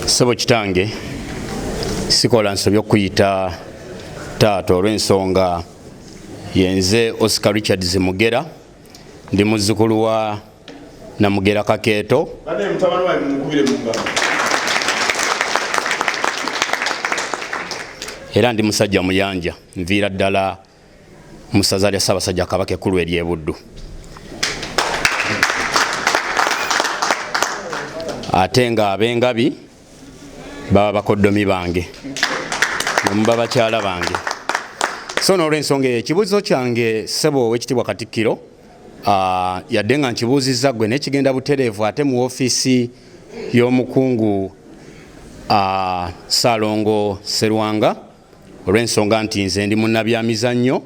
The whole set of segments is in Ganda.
sebo kitange sikola nsobi okuyita taata olw'ensonga yenze oscar richard zimugera ndi muzzukulu wa namugera kakeeto era ndi musajja muyanja nviira ddala mu ssaza lya Ssaabasajja Kabaka ekkulu ery'e Buddu. ate nga abengabi baba bakoddomi bange nemuba bakyala bange so nolwensonga eyo ekibuuzo kyange sebo owekitibwa katikkiro uh, yadde nga nkibuuzizza gwe naye kigenda butereevu ate mu ofiisi y'omukungu uh, ah, salongo serwanga olw'ensonga nti nze ndi munnabyamizannyo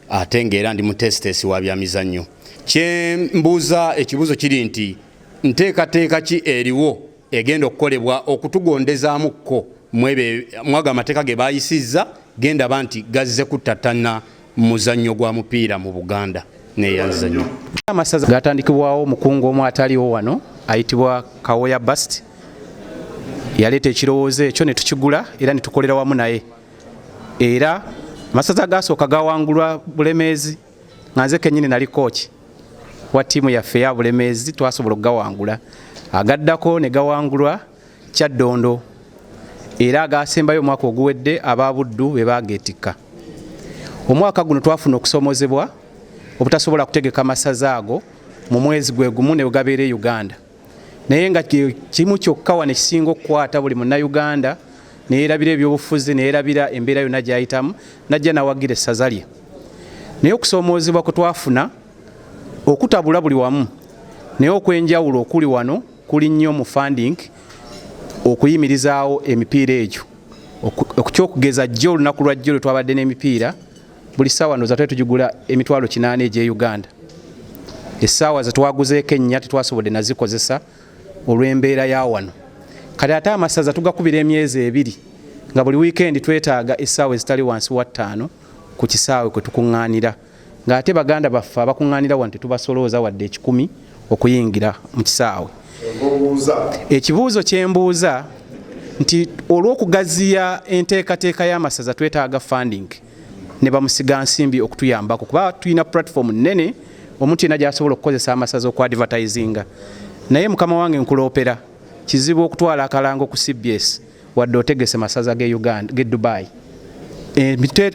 ate ng'era ndi muteesiteesi wa byamizannyo kye mbuuza ekibuuzo kiri nti nteekateeka ki eriwo egenda okukolebwa okutugondezaamu kko mwebyo mwagamateeka ge baayisizza gendaba nti gazze kuttattanna muzannyo gwa mupiira mu Buganda neyanzanyo. Amasaza gatandikibwawo mukungu omu ataliwo wano ayitibwa Kawoya Bast yaleeta ekirowoozo ekyo ne tukigula era ne tukolera wamu naye era amasaza agasooka gawangulwa Bulemeezi nga nze kennyini nali kooki wa ttiimu yaffe ya Bulemeezi twasobola okugawangula agaddako ne gawangulwa Kyaddondo era agaasembayo omwaka oguwedde aba Buddu be baageetikka. Omwaka guno twafuna okusoomozebwa obutasobola kutegeka masaza ago mu mwezi gwe gumu ne gabeera e Uganda naye nga kimu kyokka wano ekisinga okukwata buli munnayuganda neyerabira ebyobufuzi neyerabira embeera yonna gyayitamu najja nawagira essaza lye naye okusoomoozebwa kwe twafuna okutabula buli wamu naye okwenjawulo okuli wano kuli nnyo mu funding okuyimirizaawo emipiira egyo okukyokugeza jjo olunaku lwa jjo lwe twabadde n'emipiira buli ssaawa ndoza twali tugigula emitwalo kinaana egy'e uganda essaawa zetwaguzeeko ennya tetwasobodde nazikozesa olw'embeera ya wano kati ate amasaza tugakubira emyezi ebiri nga buli wiikendi twetaaga essaawa ezitali wansi wa ttaano ku kisaawe kwe tukuŋŋaanira ng'ate baganda baffe abakuŋŋaanira wano tetubasolooza wadde ekikumi okuyingira mu kisaawe ekibuuzo kye mbuuza nti olw'okugaziya enteekateeka y'amasaza twetaaga funding ne bamusiga nsimbi okutuyambako kuba tulina pulatifomu nnene omuntu yenna gy'asobola okukozesa amasaza oku advertisinga naye mukama wange nkuloopera kizibu okutwala akalango ku cbs wadde otegese masaza ge Uganda ge Dubai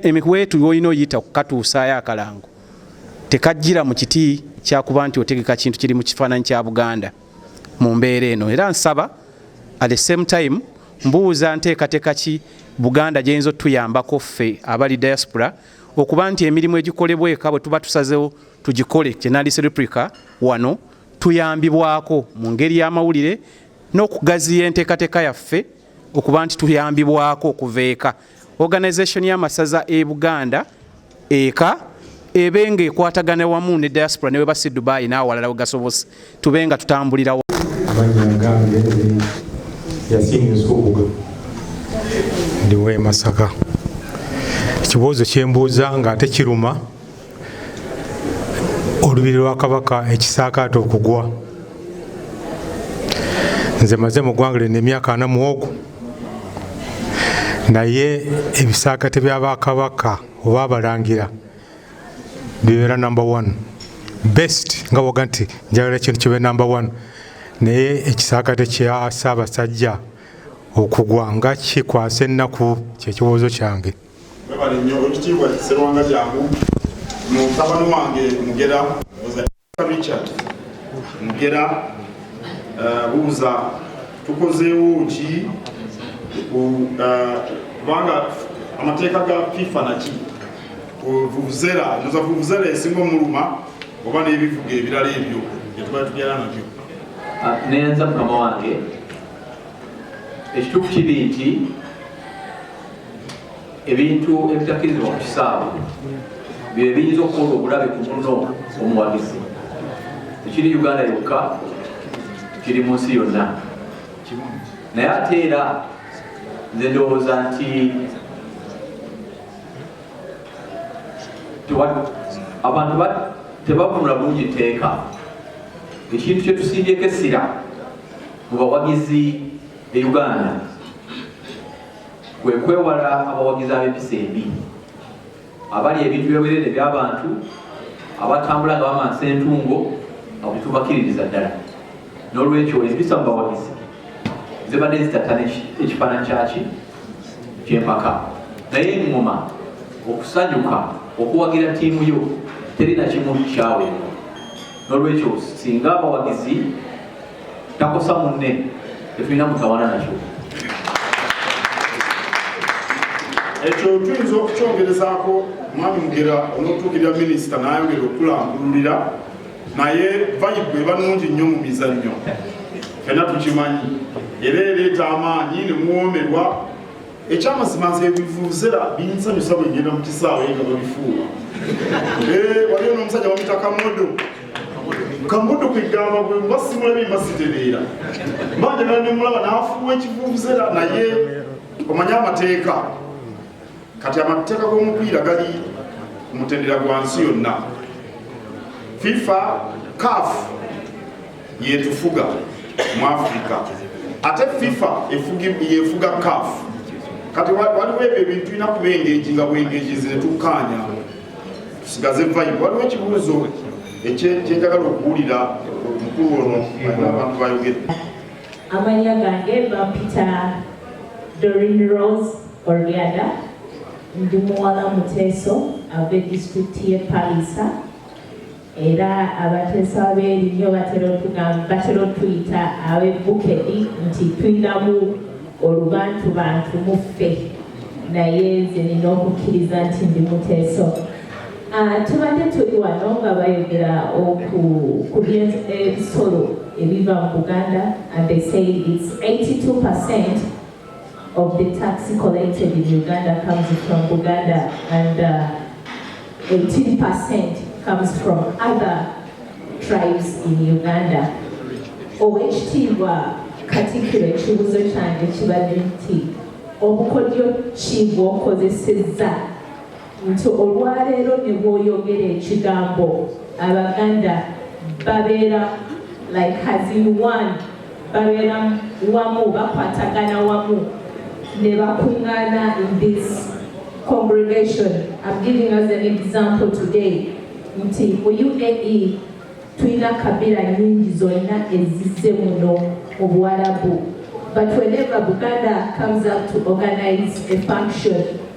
emikwetu olina oyita kukatuusaayo akalango tekajjira mu kiti kyakuba nti otegeka kintu kiri mu kifaananyi kya Buganda mu mbeera eno era nsaba at the same time mbuuza nteekateeka ki Buganda gyeyinza otuyambako ffe abali diaspora okuba nti emirimu egikolebwa eka bwe tuba tusazewo tugikole kyenandise replica wano tuyambibwako mu ngeri y'amawulire n'okugaziya enteekateeka yaffe okuba nti tuyambibwako okuva eka organisation y'amasaza e buganda eka ebe nga ekwatagana wamu ne diaspora ne webasi dubai n'awalala we gasobose tube nga tutambulirawo ndiwe masaka ekibuuzo kyembuuza nga ate kiruma olubiri lwa kabaka ekisaakaate okugwa nze maze mu ggwanga lino emyaka ana muwogo naye ebisaakate byabakabaka oba abalangira bibeera number one best nga woga nti njagala ekintu kibe number one naye ekisaakate kya ssaabasajja okugwa nga kikwasa ennaku kyekibuuzo kyange webale nnyo olukitiibwa serwanga jangu mutabani wange mugera richard mugera eh, buuza tukozeewo ki eh, kubanga amateeka ga fifa naki vuvuzera noza vuvuzera esinga omuluma oba n'ebivuga ebirala ebyo byetubali tubyala nabyo ah, neyanza mukama wange ekituufu kiri nti ebintu ebitakirizibwa ku kisaawe bye biyinza okukola obulabe ku muno omuwagizi tekiri uganda yokka kiri mu nsi yonna naye ate era nze ndowooza nti abantu tebavunula bulungi tteeka ekintu kyetusimbyeko essira mu bawagizi e Uganda kwe kwewala abawagizi ab'empisa embi abali ebintu byogerere by'abantu abatambula nga bamansa entungo abitubakiririza ddala n'olwekyo empisa mu bawagizi zibadde zitattana ekifaananyi kyaki ky'empaka naye eŋŋoma okusanyuka okuwagira ttiimu yo teri na kimu kyaweebwa n'olwekyo singa abawagizi takosa munne tetulina mutawana nakyo ekyo tuyinza okukyongerezaako mwami mugera onotuukirira minisita nayongera okukulambululira naye vayibu eba nungi nnyo mu mizannyo fena tukimanyi era ereeta amaanyi nemuwomerwa ekyamazima nze ebivuzera binsanyusa bwe ngenda mu kisaawe nga babifuula eh, waliyo n'omusajja bamita kamodo kamodo kwegamba gwe mba simulabe mba sitereera mba njagala ne mulaba n'afuuwa ekivuvuzera naye omanye amateeka kati amateeka g'omupiira gali mutendera gwa nsi yonna fifa caf yetufuga mu Africa ate FIFA yefuga CAF kati waliwo ebyo ebintu tulina kuba engeji nga bwengeji zetukkaanya tusigaze vibe waliwo ekibuuzo ekyenjagala okuwulira omukulu ono alina abantu bayogedde amannya gange bampita dorin rose oriada ndi muwala muteeso ave disitulikiti ye palisa Era abateesa b'erinnyo batera otuyita ab'e Bukedi nti tulinamu olubantubantu mu ffe, naye nze nina okukkiriza nti ndi muteeso. Ah, tubadde tuli wano nga bayogera ku by'ebisolo ebiva mu Buganda and they say it's 82 percent of the tax collected in Uganda comes from Buganda and uh, 18% comes from other tribes in Uganda. Owekitiibwa Katikkiro ekibuuzo kyange kibadde nti obukodyo ki bw'okozesezza nti olwaleero ne bwoyogera ekigambo abaganda babeera like as in one babeera wamu bakwatagana wamu ne bakuŋŋaana in this congregation I'm giving us an example today nti mu UAE tulina kabira nyingi zonna ezizze muno mu buwalabu but whenever buganda comes up to organize a function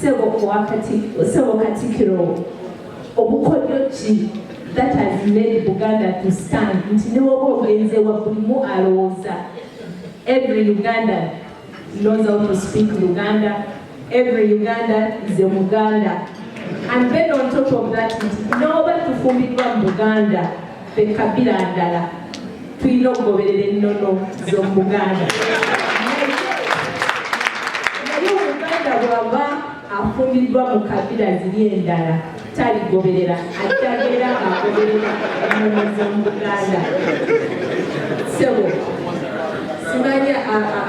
Sebo kwa Katikiro, Sebo Katikiro, obukodyo ki that has made Buganda to stand nti ne woba ogenze wa buli mu alowooza every Uganda knows how to speak Luganda, every Uganda is a Muganda. And then on top of that, nti n'oba tufumbirwa mu Buganda Ffe kabira ndala tulina okugoberera ennono z'omu Buganda. Naye Omuganda bw'aba afumbiriddwa mu kabira ziri endala taligoberera ajja beera ng'agoberera ennono z'omu Buganda. Ssebo simanyi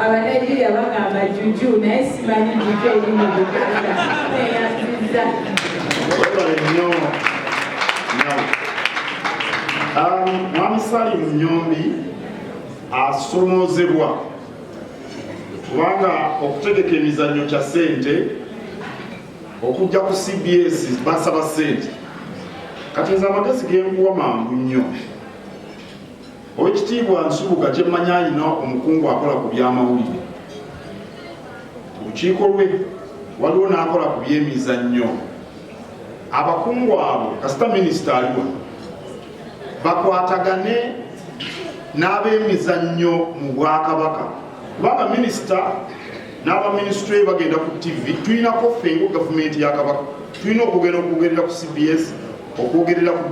abanigeria bagamba juju naye simanyi juju eri mu Buganda eyanziza. Um, Mwami Salim Nyombi asomoozebwa kubanga okutegeka emizannyo kya sente okujja ku cbs basaba sente kati nze amagezi genkuwa mangu nnyo owekitiibwa nsubuga kyemmanyi alina omukungu akola ku byamawulire olukiiko lwe waliwo n'akola ku byemizannyo abakungu abo kasita minisita aliwa bakwatagane n'abemizannyo mu bwakabaka kubanga minisita n'abaminisitule bagenda ku tv tulinako fenga gavumenti ya kabaka tulina okugenda okwogerera ku cbs okwogerera ku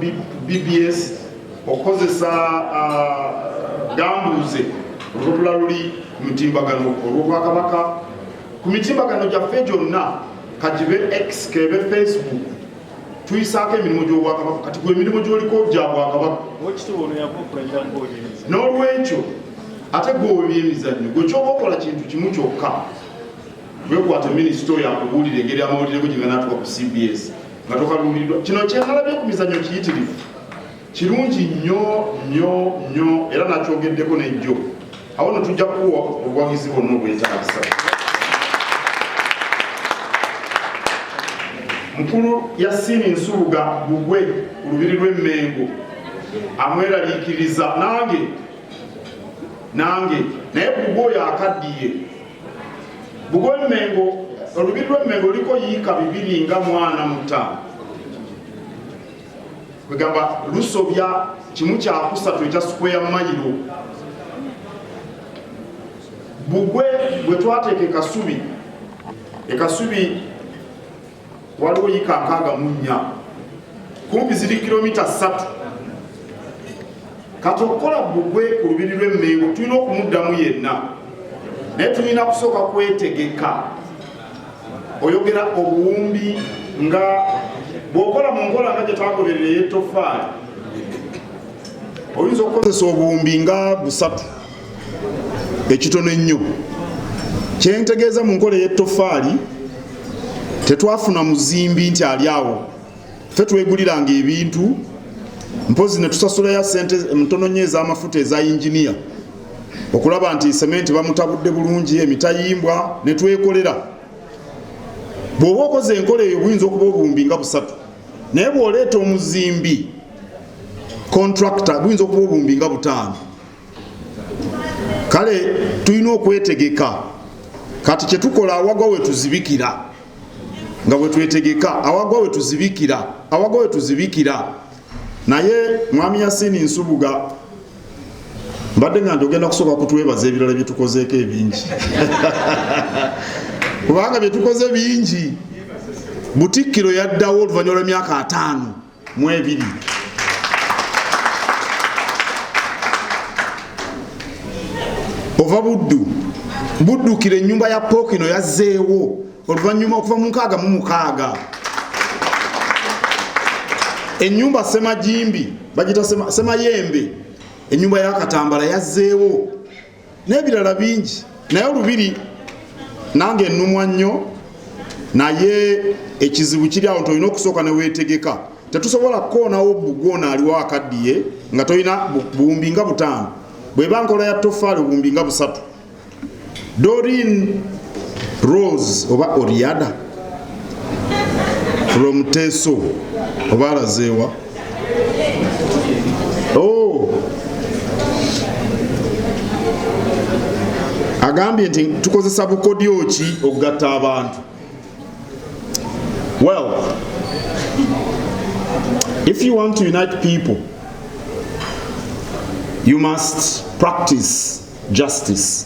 bbs okukozesa ah, gambuuze olwobula luli ku mitimbagano olwobwakabaka ku mitimbagano gyaffe gyonna kagibe x kebe facebook tuyisaako emirimu gy'obwakabaka kati gwe emirimu gyoliko gya bwakabaka n'olwekyo ate gweowe byemizannyo gwe kyoba okola kintu kimu kyokka wekwata minisita oyo akubuulira engeri amawulire go gyeganatuka ku cbs nga tokaluuliddwa kino kyenalabye ku mizannyo kiyitirivu Kirungi nnyo nnyo nnyo era nakyogeddeko nejjo awo no tujja kukuwa obuwagizi bwonna obwetaagisa. Mukulu Yasin Nsubuga Bugwe ku lubiri lw'e Mmengo amweraliikiriza nange nange naye Bugwe oyo akaddiye Bugwe Mmengo olubiri lw'e Mmengo luliko yiika bibiri nga mwana mutaano kwegamba lusobya kimu kyakusatu ekya square mayiro bugwe bwe twateeka ekasubi ekasubi waliwo yika nkaaga mu nnya kumpi ziri kilomita ssatu kati okukola bugwe ku lubiri lw'emmengo tulina okumuddamu yenna naye tulina kusooka kwetegeka oyogera obuwumbi nga bwokola mu nkola nga gyetagoberera eyettofaali oyinza okukozesa obuwumbi nga busatu ekitono ennyo kyentegeeza mu nkola eyettofaali tetwafuna muzimbi nti ali awo ffe tweguliranga ebintu mpozi netusasulayo sente ntono nyo ezamafuta eza yinginiya okulaba nti sementi bamutabudde bulungi emitayimbwa netwekolera bwoba okoze enkola eyo buyinza okuba obuwumbi nga busatu naye bwoleeta omuzimbi contractor buyinza okuba obuwumbi nga butaano kale tulina okwetegeka kati kyetukola awagwa wetuzibikira nga bwetwetegeka awagwa wetuzibikira awagwa wetuzibikira naye mwami yasini nsubuga mbadde nga ndiogenda kusooka kutwebaza ebirala byetukozeeko ebingi kubanga byetukoze bingi butikkiro yaddawo oluvanyuma lwemyaka ataano mu ebiri ova buddu buddukira ennyumba ya pookino yazzeewo oluvannyuma okuva mu nkaaga mu mukaaga ennyumba semajimbi bagita semayembe ennyumba ya katambala yazzeewo n'ebirala bingi naye olubiri nange ennumwa nnyo naye ekizibu kiri awo nti olina okusooka neweetegeka tetusobola kukoonawo bugwo ono aliwo akaddiye nga tolina buwumbi nga butaano bweba nkola ya tofaali obuwumbi nga busatu dorin rose oba oriada from teso oba alazeewa Oh. agambye nti tukozesa bukodyo ki okugatta abantu well if you want to unite people you must practice justice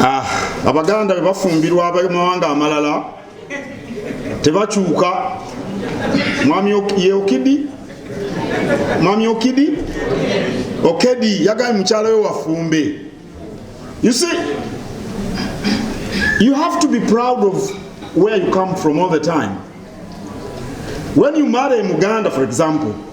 ah, abaganda bebafumbirwa abamawanga amalala tebakyuka mwami yeokidi mwami okidi okedi yagambye mukyala we wafumbe you see you have to be proud of where you come from all the time when you marry muganda for example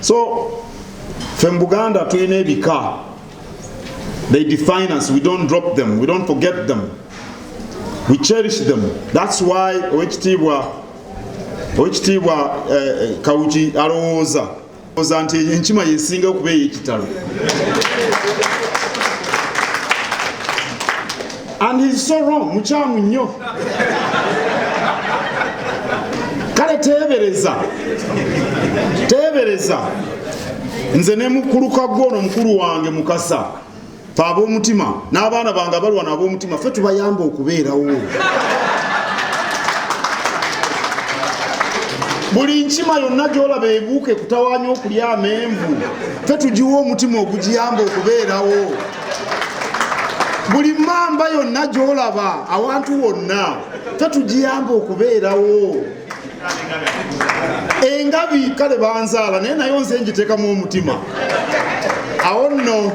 so fe mu buganda tulina ebika they define us we don't drop them we don't forget them we cherish them that's why owekitiibwa owekitiibwa uh, kawuki alowooza oza nti enkima yesinga okuba eyekitalo and he is so wrong mukyamu nnyo kale teebereza teebereza nze ne mukuluka gwono mukulu wange mukasa fe ab'omutima n'abaana bange abalwana ab'omutima fe tubayamba okubeerawo buli nkima yonna gyolaba ebuuka ekutawanya okulya amenvu fe tugiwa omutima ogugiyamba okubeerawo buli mamba yonna gyolaba awantu wonna tetugiyamba okubeerawo engabi kale banzaala naye nayo nze ngiteekamu omutima awo nno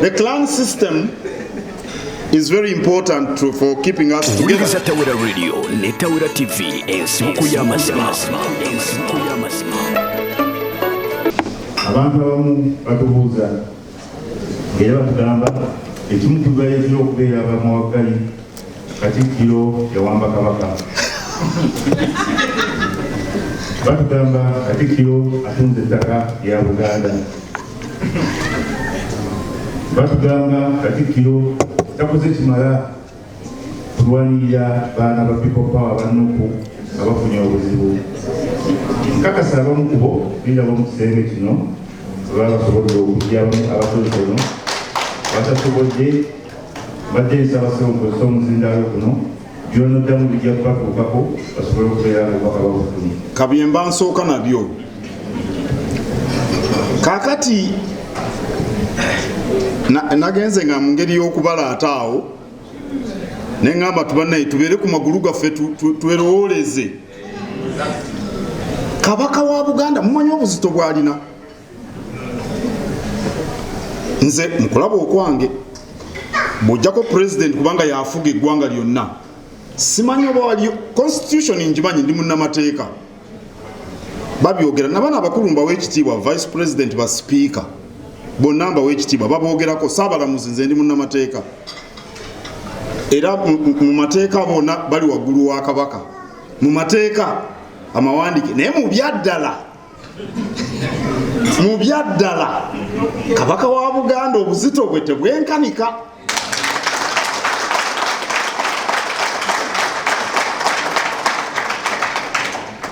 the clan system is very important to, for keeping us together. Wuliriza Tawera Radio ne Tawera TV ensibuko y'amazima. Abantu abamu batubuuza era batugamba ekimu ku bibayitira okubeera abamawaggali Katikkiro yawamba Kabaka. Batugamba Katikkiro atunze ettaka lya Buganda. Batugamba Katikkiro takoze kimala Tulwanirira baana ba People Power ba Nupu nga bafunye obuzibu. Nkakasa abamu kubo birabo mu kisenge kino baba basobodde okugyamu abatonotono batasobodde badde nsaba sewukozesa omuzindaalo guno byonoddamu bijja kubatuukako basobole okubeera nga obubaka babufunye. Kabyemba nsooka nabyo. kakati nagenze nga mu ngeri y'okubala ate awo ne ŋamba tubanaye tubeere ku magulu gaffe twerowooleze kabaka wa buganda mumanyi obuzito bwalina nze mukulaba okwange bwojjako president kubanga yafuga eggwanga lyonna simanyi oba waliyo constitution njimanyi ndi munnamateeka babyogera nabana abakulu mbawa ekitiibwa vice president ba sipiika bonna mbawa ekitiibwa baboogerako saabalamuzi nze ndi munnamateeka era mu mateeka bona bali waggulu wa kabaka mu mateeka amawandike naye mu byaddala mu byaddala kabaka wa buganda obuzito bwe tebwenkanika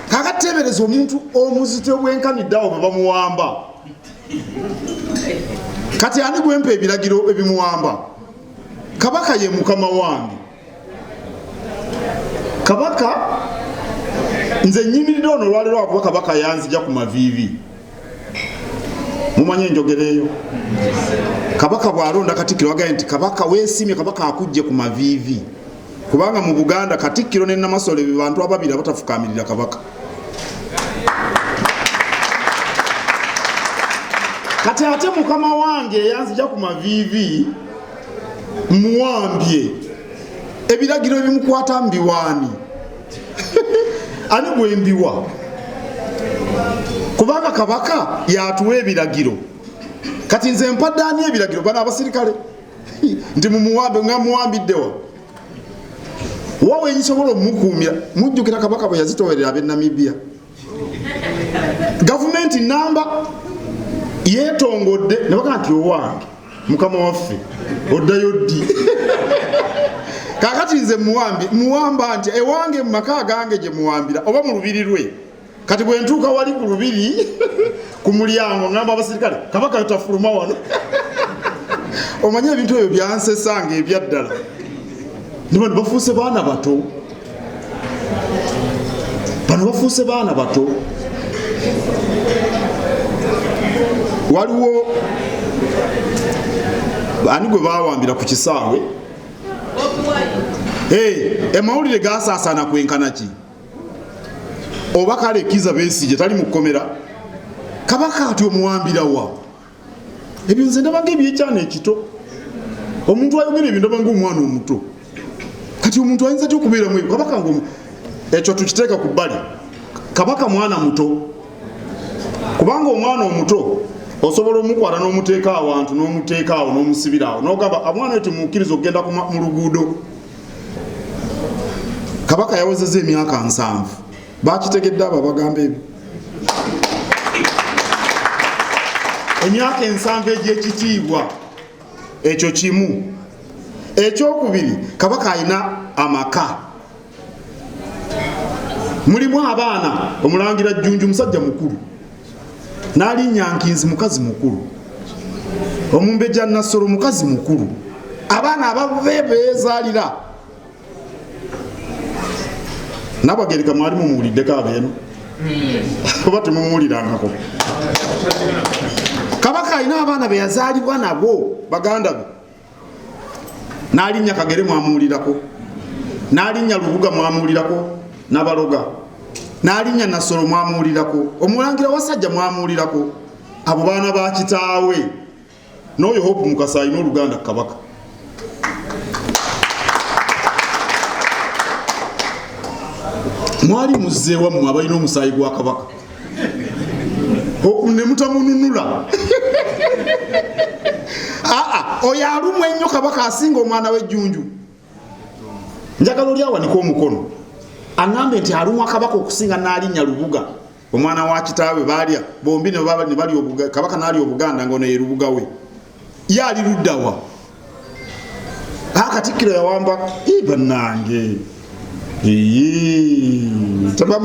kakateebereza omuntu omuzito obwenkaniddeawo bwe bamuwamba kati ani gwempa ebiragiro ebimuwamba kabaka ye mukama wange kabaka nze nyimiridde ono olwaliro wakuba kabaka yanzija ku maviivi mumanye enjogera eyo kabaka bwalonda katikkiro wagaye nti kabaka wesimye kabaka akujje ku maviivi kubanga mu buganda katikkiro ne namasole be bantu ababiri abatafukamirira kabaka kati ate mukama wange eyanzija ku maviivi muwambye ebiragiro ebimukwata mbiwaani ani gwembiwa kubanga kabaka yatuwa ebiragiro kati nze mpadde ani ebiragiro bana abasirikale nti mumuwambe nga muwambiddewa wawe nsobola omukuumira mujjukira kabaka bwe yazitowerera abe namibia gavumenti namba yetongodde nabaga nti owange mukama waffe oddayo ddi kakati nze muwambi muwamba nti ewange mu maka agange gye muwambira oba mu lubiri lwe kati bwe ntuuka wali ku lubiri ku mulyango ngamba abasirikale kabaka yotafuluma wano omanye ebintu ebyo byansesanga ebyaddala niba nibafuuse baana bato bano bafuuse baana bato waliwo ani gwe bawambira ku kisaawe emawulire gasaasaana kwenkana ki oba kale kiza besije tali mu kkomera kabaka ati omuwambirawa ebyo nze ndabaga ebyekyana ekito omuntu ayogera ebyo ndabanga omwana omuto kati omuntu ayinza ty okubeeramu ebyo kabaka nga ekyo tukiteeka ku bbali kabaka mwana muto kubanga omwana omuto osobola omukwata n'omuteeka awantu n'omuteeka awo n'omusibira awo nogamba amwana oyo temukkiriza okugenda mu luguudo kabaka yawezeza emyaka nsanvu bakitegedde abo abagamba ebyo emyaka ensanvu egyekitiibwa ekyo kimu ekyokubiri kabaka alina amaka mulimu abaana omulangira jjunju musajja mukulu nalinyankinzi mukazi mukulu omumbeja nassolo mukazi mukulu abaana ababe bezalira nabagereka mwali mumuwuliddeko abeeno oba temumuwulirangako kabaka alina abaana beyazaalibwa nabo baganda be nalinnya kagere mwamuwulirako nalinnya lubuga mwamuwulirako nabaloga nalinnya nasolo mwamuwulirako omulangira wasajja mwamuwulirako abo baana bakitaawe n'oyo hope mukasa alina oluganda kabaka mwali muzzeewa mmwe abalina omusaayi gwa kabaka ne mutamununula aa oyo alumu ennyo kabaka asinga omwana w'ejjunju njagala oli awanika omukono aŋambe nti alumwa kabaka okusinga n'alinnya lubuga omwana wa kitaawe baalya bombi ne balya kabaka naalya obuganda nga ono ye lubuga we ye ali luddawa akatikkiro yawamba banange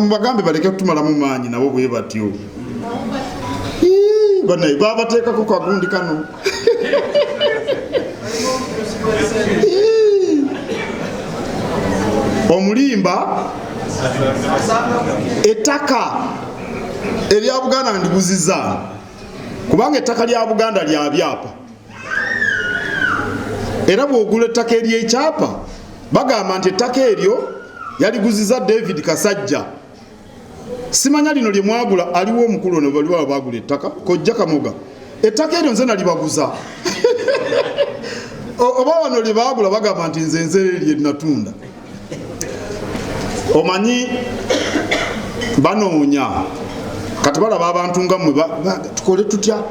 bagambe baleke kutumalamu maanyi nabo bwe batyo banaye babateekako kagundi kano omulimba ettaka erya buganda ndiguziza kubanga ettaka lya buganda lya byapa era bwogula ettaka eryekyapa bagamba nti ettaka eryo yaliguziza david kasajja simanya lino lye mwagula aliwo omukulu ono bali baba bagula ettaka kojja kamoga ettaka eryo nze nalibaguza oba wano lye bagula bagamba nti nze nze lye natunda omanyi banoonya kati balaba abantu nga mwe tukole tutya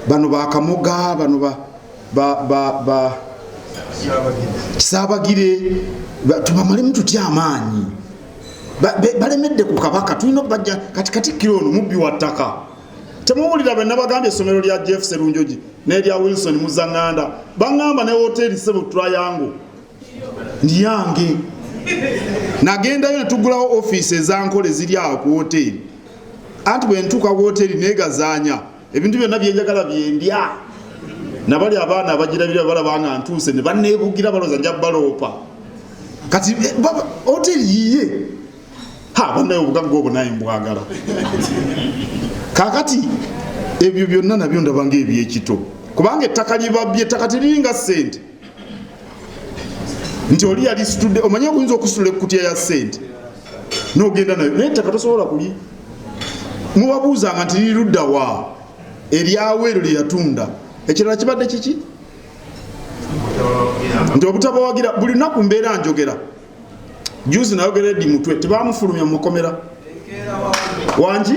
bano bakamoga bano ba, ba, ba, ba kisaabagire tubamalemu tutya amaanyi balemedde ku kabaka tulina okubajja kati katikkiro ono mubbi wa ttaka temuwulira be nabagambye essomero lya jeff serunjogi n'erya wilson muzaŋŋanda baŋŋamba ne woteeri sebo tulayango ndiyange nagendayo netugulawo ofiisi ezankola eziri awo ku woteeri anti bwentuuka woteeri negazaanya ebintu byonna byenjagala byendya nabali abaana abagirabira balaba nga ntuuse ne baneebugira baloza nja baloopa kati eh, hoteri yiye ha banaye obugagga obwo naye mbwagala kakati ebyo byonna nabyo ndabanga ebyekito kubanga ettaka libabye ettaka teliringa ssente nti oli yali situdde omanye oyinza okusitula ekkutya ya sente nogenda nayo naye ettaka tosobola kuli mubabuuzanga nti liri ludda wa eryawo eryo lyeyatunda ekirala kibadde kiki nti obutabawagira buli lunaku mbeera njogera juzi nayogera edi mutwe tebamufulumya mumakomera wangi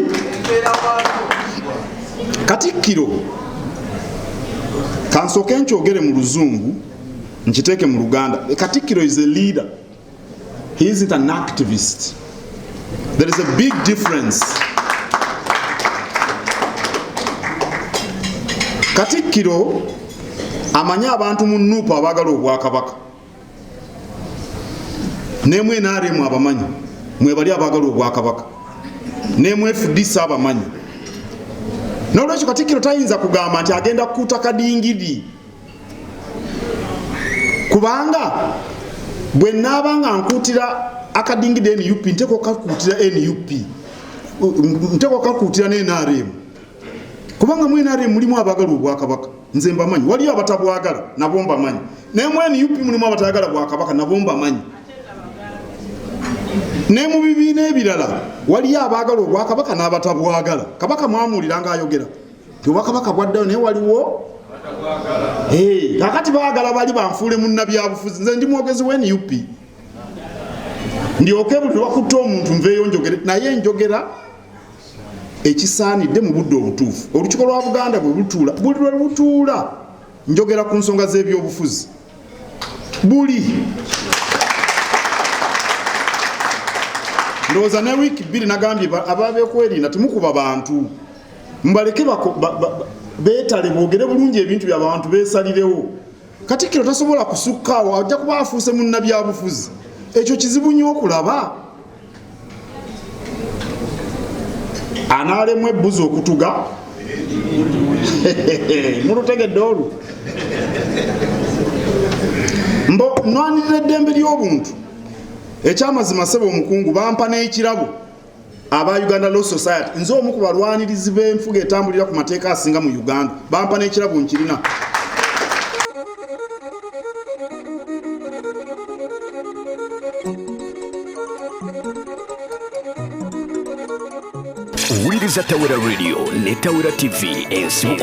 katikkiro kansooke nkyogere mu luzungu nkiteeke mu luganda katikkiro is a leader he isn't an activist there is a big difference katikkiro amanyi abantu mu nuupu abaagala obwakabaka nemwe naremu abamanyi mwebali abagala obwakabaka nemwe fdc abamanyi nolwekyo katikiro tayinza kugamba nti agenda kukuta kadingidi kubanga bwe naaba nga nkuutira akadingide nup nteka okakuutira nup nteka okakuutira ne nrm kubanga mu nrm mulimu abagala obwakabaka nze mbamanyi waliyo abatabwagala nabo mbamanyi naye mu nup mulimu abatayagala bwakabaka nabo mbamanyi ne mu bibiina ebirala waliyo abaagala obwakabaka n'abatabwagala kabaka mwamuwulira ngaayogera nti obwakabaka bwaddayo naye waliwo kakati baagala bali banfuule munnabyabufuzi nze ndi mwogezi wa nup ndyoke buli lwakutte omuntu nveeyo njogere naye njogera ekisaanidde mu budde obutuufu olukiiko lwa buganda bwe lutuula buli lwe lutuula njogera ku nsonga z'ebyobufuzi buli ndowooza ne wiiki bbiri nagambye ababekwerinda temukuba bantu mubaleke beetale boogere bulungi ebintu byabantu beesalirewo katikkiro tasobola kusukkaawo ajja kuba afuuse munnabyabufuzi ekyo kizibu nnyo okulaba anaalemwa ebbuzi okutuga mulutegedde olwo mbo nwanirira eddembe ly'obuntu ekyamazima sebe omukungu bampa n'ekirabo aba uganda law society nze omu ku balwanirizi b'enfuga etambulira ku mateeka asinga mu uganda bampa n'ekirabo nkirina Wuliriza Tawera Radio ne Tawera TV ensibuko